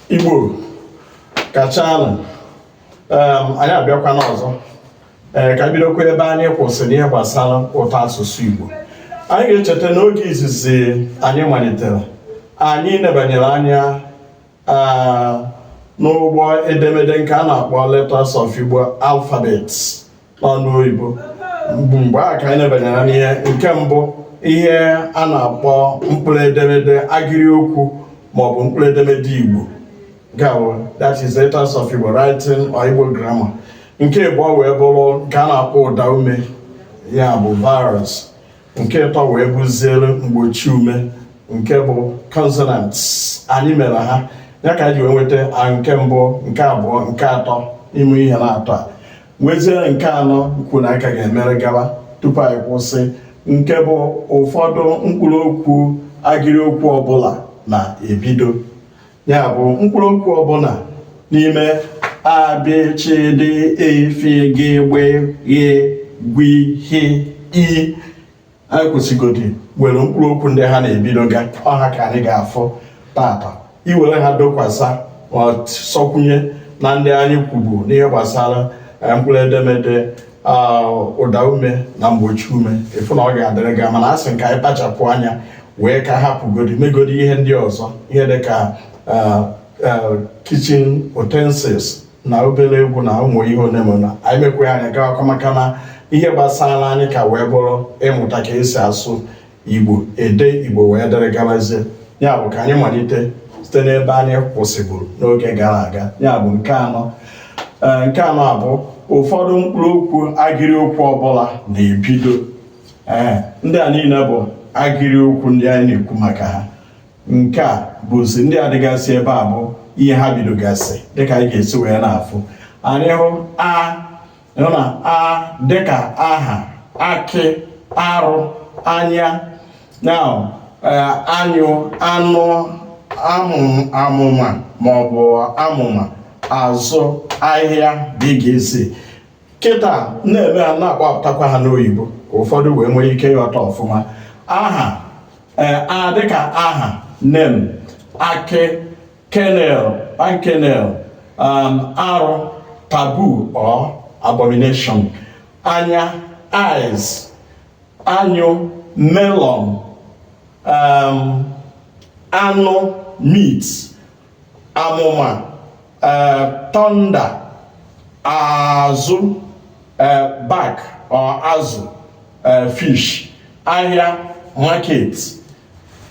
Igbo kachanụ um, anyị abịakwana ọzọ ee eh, ka bidokwa ebe anyị kwụsịrị ihe gbasara ụtọ asụsụ Igbo anyị ga-echeta na oge izizi anyị malitere anyị nebanyere anya ah, n'Igbo edemede nke a na-akpọ Letters of Igbo Alphabets n'onu oyibo bụ mgbe a ka anyị nebanyere n'ihe nke mbụ ihe a na-akpọ mkpụrụ edemede agịrị okwu maọbụ mkpụrụ edemede igbo gawo that is letters of igbo writing or igbo grammar nke ịbụọ wee bụrụ nke a na-akpọ ụda ume ya bụ vowels nke ịtọ wee bụziere mgbochi ume nke bụ consonants anyị mere ha ya ka anyị ji wee nweta nke mbụ nke abụọ nke atọ n'ime ihe n'atọ a nweziere nke anọ nke anyị ka ga-emere gawa tupu anyị kwụsị nke bụ ụfọdụ mkpụrụ okwu agịrị okwu ọbụla na-ebido ya bụ mkpụrụ okwu ọbụla n'ime a bị chị dị e fi gị gbi ghi gwi hi i anyị kwụsịgodi were mkpụrụ okwu ndị ha na-ebido ga ọ ha ka anyị ga-afụ taata i were ha dokwasa ma sọkwụnye na ndị anyị kwubu n'ihe gbasara eh, mkpụrụ edemede ah, ụda ume na mgbochi ume ị fụ na ọ ga-adịrị gaa mana asị m ka anyị kpachapụ anya wee ka hapụgodi megodi ihe ndị ọzọ ihe dị ka eh, eh, kitchen utensils na obere egwu na ụmụ ihe ole ma na anyị mekwa ya anyị gaakwa maka na ihe gbasara anyị ka wee bụrụ ịmụta ka e si asụ igbo ede igbo wee dịrị garazie ya bụ ka anyị malite site n'ebe anyị kwụsịburu n'oge gara aga ya bụ nke anọ Ee, nke anọ a bụ ụfọdụ mkpụrụ okwu agịrị okwu ọbụla na-ebido ee ndị a niile bụ agịrị okwu ndị anyị na-ekwu maka ha nke a bụ sị ndị a dịgasị ebe a bụ ihe ha bidogasị dịka anyị ga-esi wee na-afụ anyị hụ a nọ na a dịka aha akị arụ anya na eh, anyụ anụ amụma maọbụ amụma azụ ahịa dịgasị kịta m na-eme ha na-akpọpụtakwa ha n'oyibo ka ụfọdụ wee nwee ike ịghọta ọfụma aha eh, a dịka aha name akị kernel palm kernel um, arụ taboo or abomination anya eyes anyụ melon um, anụ meat amụma eh, thunder azụ eh, back or azụ eh, fish ahịa market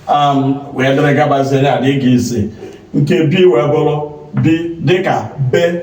um, wee dịrị gabazie ya dị ga isi nke bi wee bụrụ bi dịka be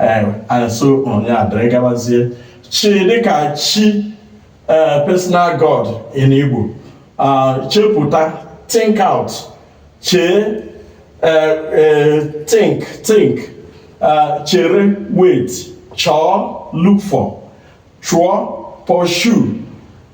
ee asụ ụrụ ya dịrị gabazie chi dịka chi ee personal god in igbo ah, chepụta think out chee ee ee think think ah, chere wait chọọ look for chụọ pursue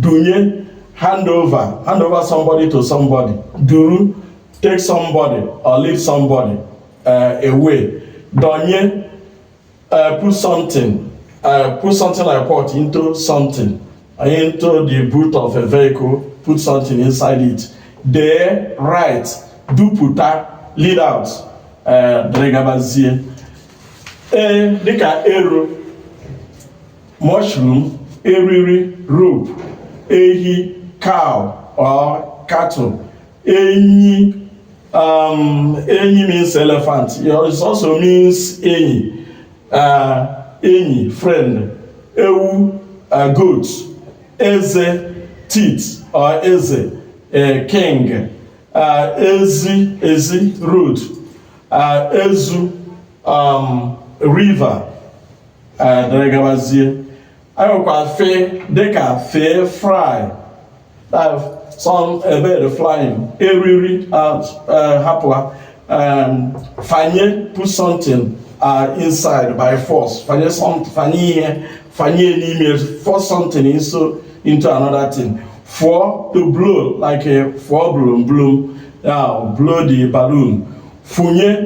dunye hand over hand over somebody to somebody duru take somebody or leave somebody uh, away donye uh, put something uh, put something like what into something into the boot of a vehicle put something inside it dee write dupụta lead out uh, dịrị gabazie ee dịka ero mushroom eriri rope ehi cow or cattle enyi um, enyi means elephant it also means enyi uh, enyi friend ewu uh, goat eze teeth or eze uh, king uh, ezi ezi road uh, ezu um, river dịrị gabazie anyị nwekwa fe dịka fee fly some a bird flying eriri hapụ ha fanye put something uh, inside by force fanye something fanye ihe fanye n'ime force something into, into another thing fụọ to blow like a fụọ bloom bloom now blow the balloon fụnye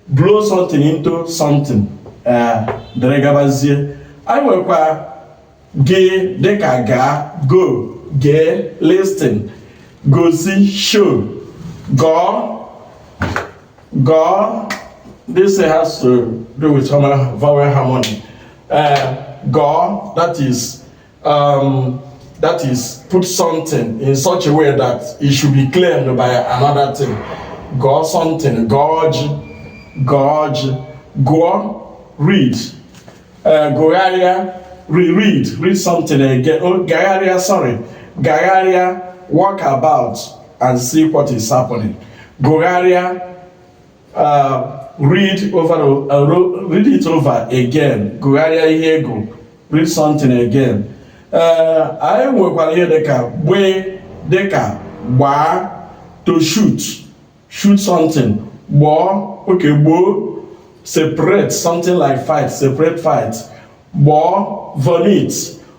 blow something into something eh, dịrị gabazie anyị nwekwa gị dịka gaa go gee listen gosi show gọọ gọọ this has to do with vowel harmony uh, eh, gụọ that is um, that is put something in such a way that it should be claimed by another thing gụọ something gụọ ji gụọ ji gụọ read uh, gụgharịa re read read something again oh, gagharịa sorry gagharịa walk about and see what is happening gụgharịa Uh, read over uh, read it over again gụgharịa ihe gụọ read something again uh, anyị nwekwara ihe dịka gbị dịka gbaa to shoot shoot something gbọọ okay gboo separate something like fight separate fight gbọọ vomit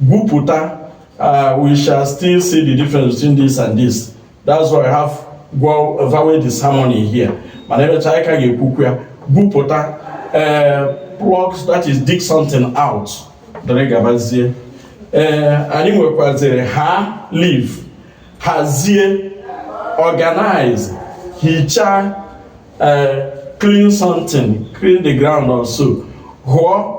gwupụta uh, we shall still see the difference between this and this that's why I have vowel disharmony here mana emechaa anyị ka ga-ekwukwu ya gwupụta uh, pluck that is dig something out dịrị gabazie uh, anyị nwekwaziri ha leave hazie organize hichaa uh, clean something clean the ground also hụọ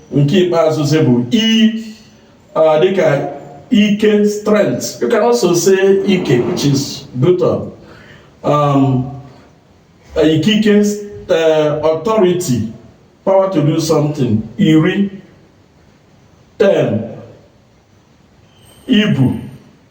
nke ikpeazụzi bụ i dịka ike strength you can also say ike which is buttocks um, ikike eh, authority power to do something iri ten ibu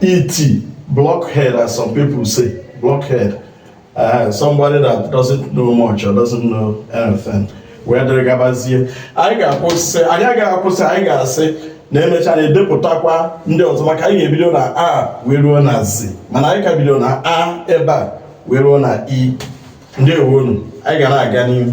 iti, blockhead, as some people say, blockhead. Uh, somebody that doesn't know much or doesn't know anything. wee dịrị gabazie anyị ga-akwụsị anyị agaghị akwụsị anyị ga-asị na emecha na edepụtakwa ndị ọzọ maka anyị ga-ebido na a wee ruo na z mana anyị ka bido na a ebe a wee ruo na i ndeewonu anyị ga na-aga n'ihu